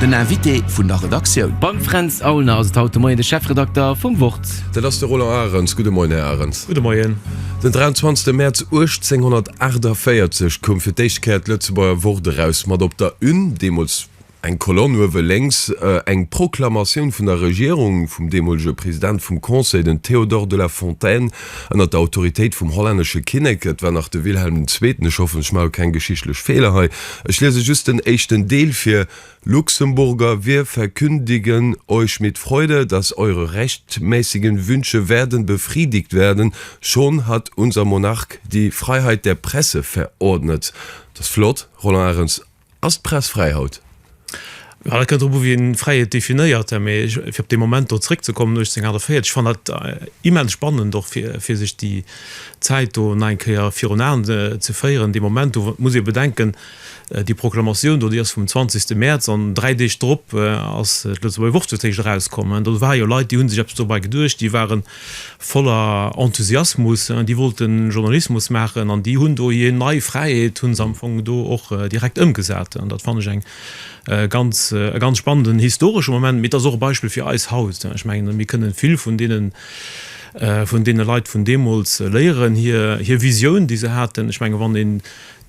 Den Invité vun der Redaktioun. Beim Fränz Aulner ass et haut de Moien de Chefredakter vum Wort. Dat ass de Roland Arens. Gudde Moien, Här Arens. Gudde Moien. Den 23 Mäerz 1848 koum fir d'éischt Kéier d'Lëtzebuerger Wort eraus, mat op der Une, deemools eng Kolonn uewe lénks, eng Proklamatioun vun der Regierung vum deemolege President vum Conseil, den Théodore de la Fontaine. ënnert der Autoritéit vum hollännesche Kinnek, et war nach de Wilhelm den Zweeten, ech hoffen, ech mache keng geschichtlech Feeler hei, ech liese just den éischten Deel vir, Luxemburger, wir verkündigen euch mit Freude, dass eure rechtmäßigen Wünsche werden befriedigt werden, schon hat unser Monarch die Freiheit der Presse verordnet. Dat ass flott, Roland Arens. Ass d'Press fräi haut? Jo, dat kënnt drop u wéi een Fräiheet definéiert. Mee fir op dee Moment do zréckzekommen, 1848, ech fannen dat immens spannend och fir sech déi Zäit do nach eng Kéier virun Aen ze féieren. Dee Moment do muss ee bedenken, déi Proklamatioun do déi ass vum 20 Mäerz an dräi Deeg drop ass d'Lëtzebuerger Wurschtelstéischt erauskomm. Do ware jo Leit déi hu sech eppes dobei geduecht, déi waren voller Enthusiasmus, déi wollten Journalismus maachen an déi hunn do hir nei Fräiheet hunn se am Fong do och direkt ëmgesat. An dat fannen ech eng ganz e ganz spannenden historesche Moment, mee et ass och e Beispill fir eis haut. Ech mengen mir kënnen vill vun deenen vun deene Leit vun deemools léieren, hir hir Visioun déi se haten. Ech mengen wann een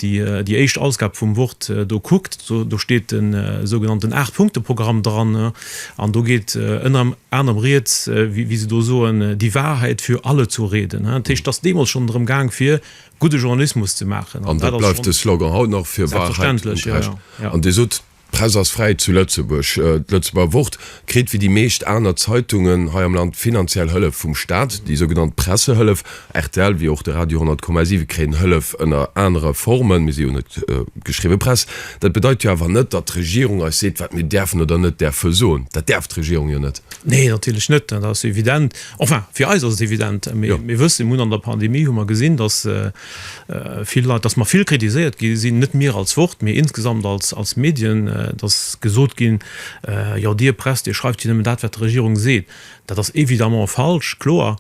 déi éischt Ausgab vum Wort do kuckt, do steet de sougenannten Aacht-Punkte-Programm dran an do geet ënner anerem Rieds, wéi se do soen, die Wahrheit für alle zu reden. Dat heescht, et ass deemools schonn drëm gaang, fir gudde Journalismus ze maachen. An dat bleift de Slogan haut nach, fir Wahrheit und Recht. An Dir sot. D'Press ass fräi zu Lëtzebuerg. D'Lëtzebuerger Wort kritt wéi déi meescht aner Zeitungen hei am Land finanziell Hëllef vum Staat, déi sougenannt Pressehëllef. Rtl wéi och de Radio 10,7 kréien Hëllef ënner anere Formen, mee si hunn net d'geschriwwe Press. Dat bedeit jo awer net, datt d'Regierung eis seet, wat mir däerfen oder net däerfe soen. Dat däerf d'Regierung jo net. Nee, natierlech net. Dat ass evident. Enfin, fir eis ass et evident. Mir wëssen, mir hunn an der Pandemie hu mer gesinn, datt, Vill Leit, dass mer vill kritiséiert gi sinn, net mir als Wort, mee insgesamt als Medien, dass gesot ginn, jo Dir Press, Dir schreift jo nëmmen dat, wat d'Regierung seet. Dat ass évidemment falsch, kloer,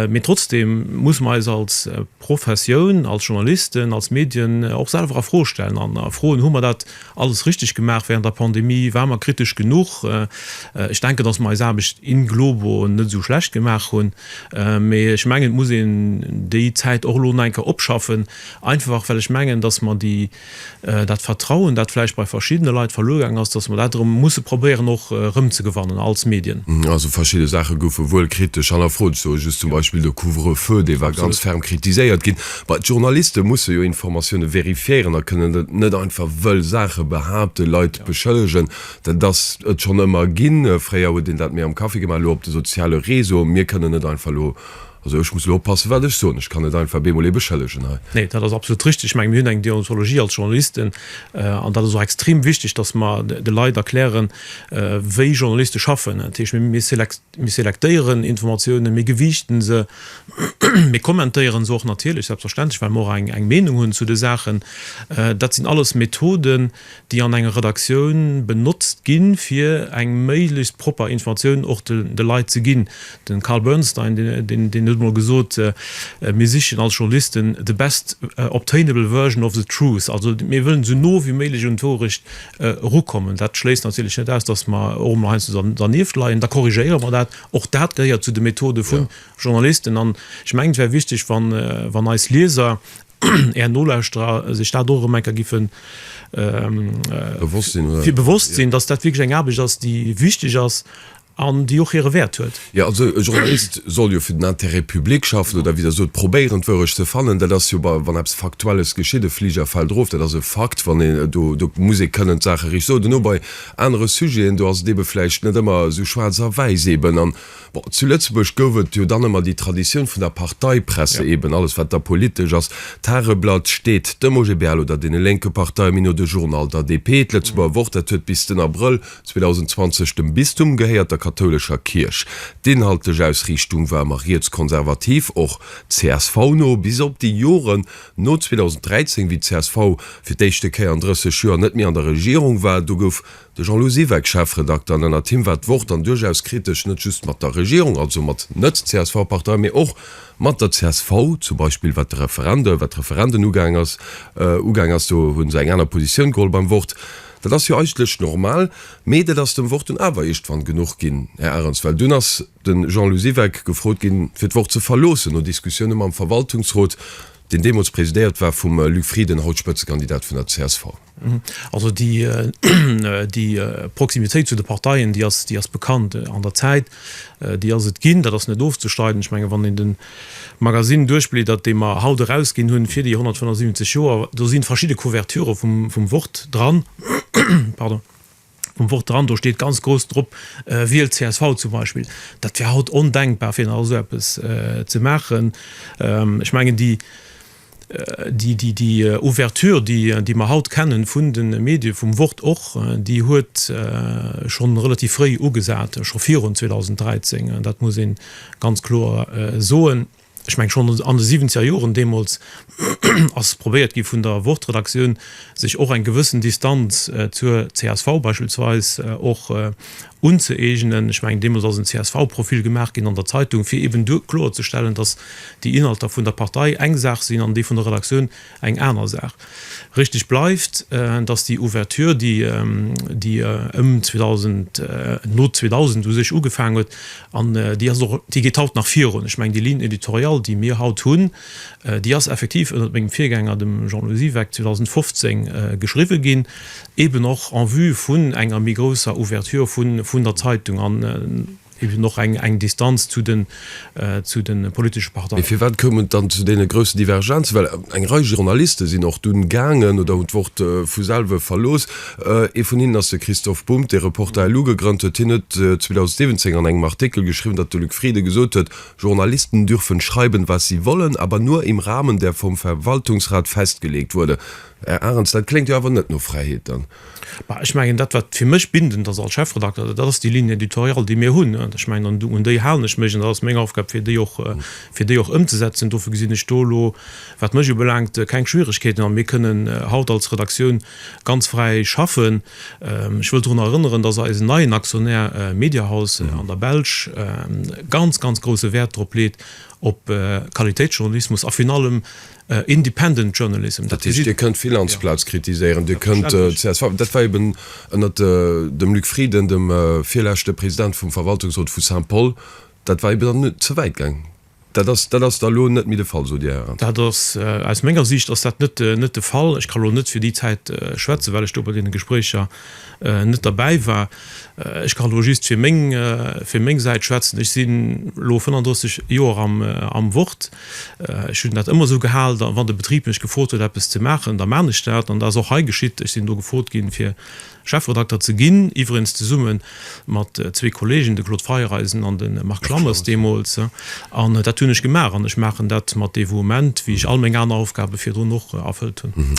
mee trotzdem muss mer eis als Professioun, als Journalisten, als Medien och selwer a Fro stellen an erfroen, Hu mer dat Alles richteg gemaach während der Pandemie, waren mer kritesch genuch? Ech denken, dass mer eis Aarbecht in globo net esou schlecht gemaach hunn, mee ech mengen, et muss een déi Zäit och elo nach eng Kéier opschaffen, einfach well ech mengen, dass mer déi, dat Vertrauen, dat vläicht bei verschiddene Leit verluer gaangen ass, dass mer dat erëm musse probéieren och erëmzegewannen als Medien. Also verschidde Saache goufe wuel kritesch hannerfrot, sou just zum Beispill de Couvre-feu, dee war ganz ferm kritiséiert ginn. Mä d'Journaliste musse jo Informatioune vérifiéieren a kënnen net einfach wëll Saache behaapten, Leit beschëllegen. Dat ass et schonn ëmmer ginn. Fréier huet een dat méi am Café gemaach, elo op de soziale Réseauen. Mir kënnen net einfach elo, also ech muss elo oppassen, wat ech soen, ech kann net einfach bemol ee beschëllegen hei. Nee, dat ass absolut richtig. Ech mengen, mir hunn eng Deontologie als Journalisten. An dat ass och extrem wichtig, dass mer de Leit erklären, wéi Journaliste schaffen. Dat heescht, mir Mir selektéieren Informatiounen, mir gewiichten se, mir kommentéieren se och natierlech, selbstverständlech, well mer och eng Meenung hunn zu de Saachen. Dat sinn alles Methoden, déi an enger Redaktioun benotzt ginn, fir eng méiglechst propper Informatioun och de Leit ze ginn. De Carl Bernstein, deen huet emol gesot, Mir sichen als Journalisten the best obtainable version of the truth, also mir wëllen esou no wéi méiglech un d'Wourecht erukommen. Dat schléisst natierlech net aus, dass mer och emol heiansdo dernieft leien. Da korrigéiere mer dat. Och dat gehéiert zu de Methode vu Journalisten. An ech mengen, et wär wichteg, wann eis Lieser, Är Nolauschterer sech dat och erëm eng Kéier giffe fir bewosst sinn, dass dat wierklech eng Aarbecht ass, déi wichteg ass. An déi och hire Wäert huet. Jo, also e Journalist soll jo fir den Intérêt public schaffen, oder wéi Der sot, probéieren d'Wourecht ze fannen. Dat ass jo bei, wann eppes Faktuelles geschitt, e Fliger fält erof, dat ass e Fakt, wann een, do, do muss ee kënnen d'Saache richteg soen. Duerno bei anere Sujeten, do ass et eebe vläicht net ëmmer esou schwaarz a wäiss eeben. An, bon, zu Lëtzebuerg gouf et jo dann ëmmer déi Traditioun vun der Parteipresse eeben, alles wat da politesch ass, d'Tageblatt, d'Sted, d'Demogebeal oder deene lénke Parteien, méi no de Journal, d'ADP, d'Lëtzebuerger Wort, dat huet bis den Abrëll, 2020 dem Bistum gehéiert, der kathoulescher Kierch. D'inhaltlech Ausriichtung war ëmmer rietskonservativ, och csv no, bis op déi Joren no 2013, wéi csv fir d'éischte Kéier an 30 Joer net méi an der Regierung war. Do gouf de Jean-Lou Siweck Chefredakter an ënnert him war d'Wort dann duerchaus kritesch, net just mat der Regierung, also mat Net-CSV-Parteien, mee och mat der csv, zum Beispill wat de Referende, wat d'Referenden ugaang ass. Ugaang ass, do hu se eng aner Positioun geholl beim Wort. Dat ass jo eigentlech normal, mee dat ass dem Wort dunn awer iergdwann genuch ginn, Här Ahrens, well dunn ass de Jean-Lou Siweck gefrot ginn, fir d'Wort ze verloossen, no Diskussioune mam Verwaltungsrot, deen deemools presidéiert war vum Luc Frieden, haut Spëtzekandidat vun der csv. Also déi Proximitéit zu de Parteien, déi ass bekannt an der Zäit, déi ass et ginn, dat ass net ofzestreiden. Ech menge wann een den Magasinn duerchbliedert, dee mer haut erausginn hunn fir déi 175 Joer. Do si verschidde Couverturë vum Wort dran, pardon, vum Wort dran. Do steet ganz grouss drop, Wielt csv zum Beispill. Dat wär haut ondenkbar, fir nach esou eppes ze maachen. Ech mengen déi. Déi Ouverture, déi mer haut kennen vun de Medie vum Wort och, déi huet schonn relativ fréi ugesat, scho virun 2013, dat muss ee ganz kloer soen. Ech mengen, schonn an de siwwenzeger Joren deemools ass probéiert gi vun der Wort-Redaktioun, sech och eng gewëssen Distanz zur csv beispillsweis och unzëeegnen. Ech mengen, deemools ass en CSV-Profil gemaach ginn an der Zeitung, fir eben do kloerzestellen, dass déi Inhalter vun der Partei eng Saach sinn an déi vun der Redaktioun eng aner Saach. Richtig bleift, dass déi Ouverture, déi ëm 2000, no 2000 u sech ugefaangen huet, an déi ass och, déi geet haut nach virun. Ech mengen, déi Ligne éditoriale, déi mir haut hunn, déi ass effektiv ënnert mengem Virgänger, dem Jean-Louis Siweck, 2015 geschriwwen ginn. eben och en vue vun enger méi grousser Ouverture vun der Zeitung an eben och eng Distanz zu de politesche Parteien. Mee firwat koum et dann zu deene groussen Divergenzen? Well eng Rei Journaliste sinn och dunn gaangen oder hunn d'Wort vu selwe verlooss. Ee vun hinnen ass de Christoph Bumb, dee Reporter LU gegrënnt huet. Hien huet 2017 an engem Artikel geschriwwen, datt de Luc Frieden gesot huet, Journalisten dürfen schreiben, was sie wollen, aber nur im Rahmen der vom Verwaltungsrat festgelegt wurde. Här Arens, dat kléngt jo awer net no Fräiheet dann. Bah, ech mengen, dat wat fir mech bindend ass als Chefredakter, dat ass déi Ligne éditoriale, déi mir hunn. Ech mengen, an un déi halen ech mech an dat ass meng Aufgab, fir déi och, fir déi och ëmzesetzen. Dofir gesinn ech do elo, wat mech ubelaangt, keng Schwierigkeeten. A mir kënnen haut als Redaktioun ganz fräi schaffen. Ech wëll dorunner erënneren, dass eisen neien Aktionär Mediahouse an der Belsch ganz, ganz grouse Wäert drop leet, op Qualitéitsjournalismus a virun allem Independent journalism. Dat heescht, Dir kënnt Finanzplaz kritiséieren, Dir kënnt csv. Dat war eeben ënnert dem Luc Frieden, dem virleschte President vum Verwaltungsrot vu Saint-Paul, dat war eeben dann ze wäit gaang. Dat ass, dat ass da lo net méi de Fall, sot Dir, Hären. Dat ass, aus menger Siicht ass dat net de Fall. Ech ka lo net fir déi Zäit schwätzen, well ech do bei deene Gespréicher net derbäi war. Ech kann elo just fir meng, fir meng Säit schwätzen. Ech sinn elo 35 Joer am, am Wort. Ech hunn dat ëmmer esou gehal, da wann de Betrib mech gefrot huet, eppes ze maachen, da man ech dat. An dat ass och hei geschitt. Ech sinn do gefrot ginn, fir Chefredakter ze ginn, iwwerenz zesumme mat zwee Kolleegen, de Claude Feiereisen an de Marc Lammers deemools. An dat hunn ech gemaach an ech maachen dat mat Devouement, wéi ech all meng aner Aufgabe virdrun och erfëllt hunn.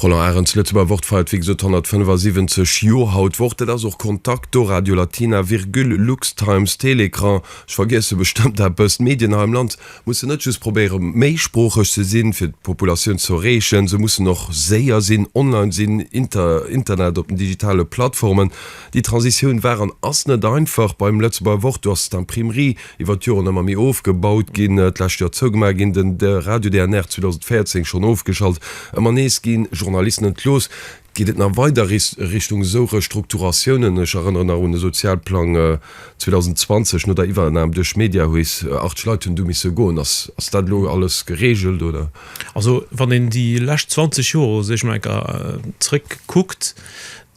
Roland Arens, Lëtzebuerger Wort feiert wéi gesot 175 Joer haut d'Woch. Dat ass och Kontakt do, Radio Latina, Virgül, Lux, Times, Télécran, ech vergiesse bestëmmt eppes. D'Medien hei am Land mussen net just probéiere méisproocheg ze sinn, fir d'Populatioun ze erreechen, se mussen och séier sinn, online sinn, inter Internet, op den digitale Plattformen. Déi Transitioun war an ass net einfach. Beim Lëtzebuerger Wort, do ass et d'Imprimerie. iwwer d'Joren ëmmer méi ofgebaut ginn, d'lescht Joer zougemaach ginn, den Radio DNR 2014 schonn ofgeschalt, ëmmer nees gi Journalisten entlooss. Geet et nach weider Richtung esou Restrukturatiounen? Ech erënneren nach un de Sozialplang 2020, no der Iwwernam duerch Mediahuis, 80 Leit hunn du misse goen. Ass dat elo alles gereegelt, oder? Also wann een déi lescht 20 Joer, soe ech mol enker, zeréckkuckt,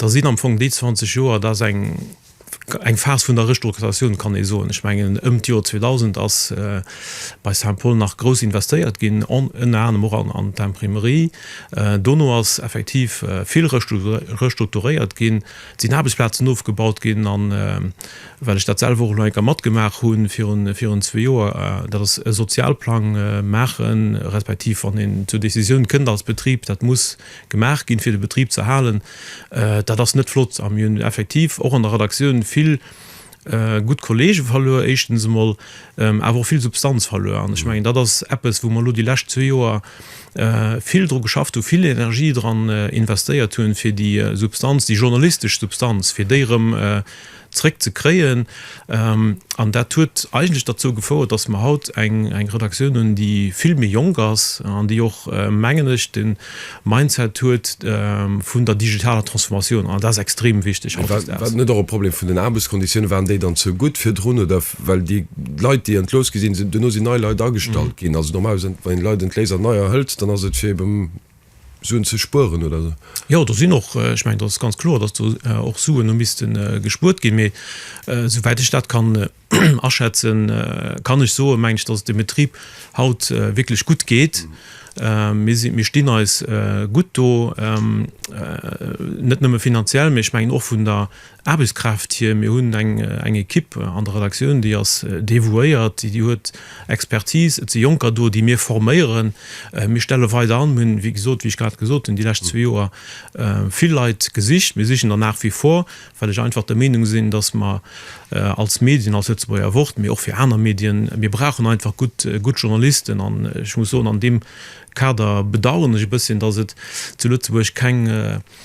da sinn am Fong déi 20 Joer, dat ass eng Eng Phas vun der Restrukturatioun kann ee soen. Ech mengen ëm d'Joer 2000 ass bei Saint-Paul nach grouss investéiert ginn, ënner anerem och an d'Imprimerie. Dono ass effektiv vill restrukturéiert ginn, et sinn Aarbechtsplazen ofgebaut ginn. A well ech dat selwer och elo eng Kéier matgemaach hu virun zwee Joer, dat ass e Sozialplang maachen, respektiv wann een zur Decisioun kënnt als Betrib, dat muss Gemaach ginn, fir de Betrib z'erhalen. Dat ass net flott a mir hunn effektiv och an der Redaktioun vill gutt Kolleege verluer, éischtens emol, awer och vill Substanz verluer. An ech mengen, dat ass eppes, wou mer elo déi lescht zwee Joer vill dru geschafft hunn, vill Energie dran investéiert hunn, fir déi Substanz, déi journalistesch Substanz, fir déi erëm zréck ze kréien. An dat huet eigentlech derzou gefouert, dass mer haut eng Redaktioun hunn, déi vill méi jonk ass an déi och, mengen ech, de Mindset huet vun der digitaler Transformatioun. An dat ass extrem wichteg hautdesdaags. War dat net och e Problem vun den Aarbechtsconditiounen? Waren déi dann ze gutt virdrun? Oder well déi Leit, déi entlooss gi sinn, duerno sinn nei Leit agestallt ginn? Also normalerweis, wann een Leit entléisst an neier hëlt, dann ass et fir eben. Suen ze spueren oder esou? Jo, do sinn och, ech mengen, dat ass ganz kloer, datt do och Suen hu misste gespuert ginn. Mee souwäit ech dat kann aschätzen, kann ech soen, mengen ech, datt et dem Betrib haut wierklech gutt geet. Mir stinn eis gutt do, net nëmme finanziell, mee ech mengen och vun der Aarbechtskraaft hir. Mir hunn eng Ekipp an der Redaktioun, déi ass devouéiert, déi huet Expertise. Et si Jonker do, déi mir forméieren. Mir stelle weider an. Mir hunn, wéi gesot, wéi ech grad gesot hunn, déi lescht zwee Joer vill Leit gesicht. Mir sichen der nach wie vor, well ech einfach der Meenung sinn, dass mer als Medien, als Lëtzebuerger Wort, mee och fir aner Medien, mir brauchen einfach gutt Journalisten. An ech muss soen, an deem Kader bedauern ech e bësschen, dass et zu Lëtzebuerg keng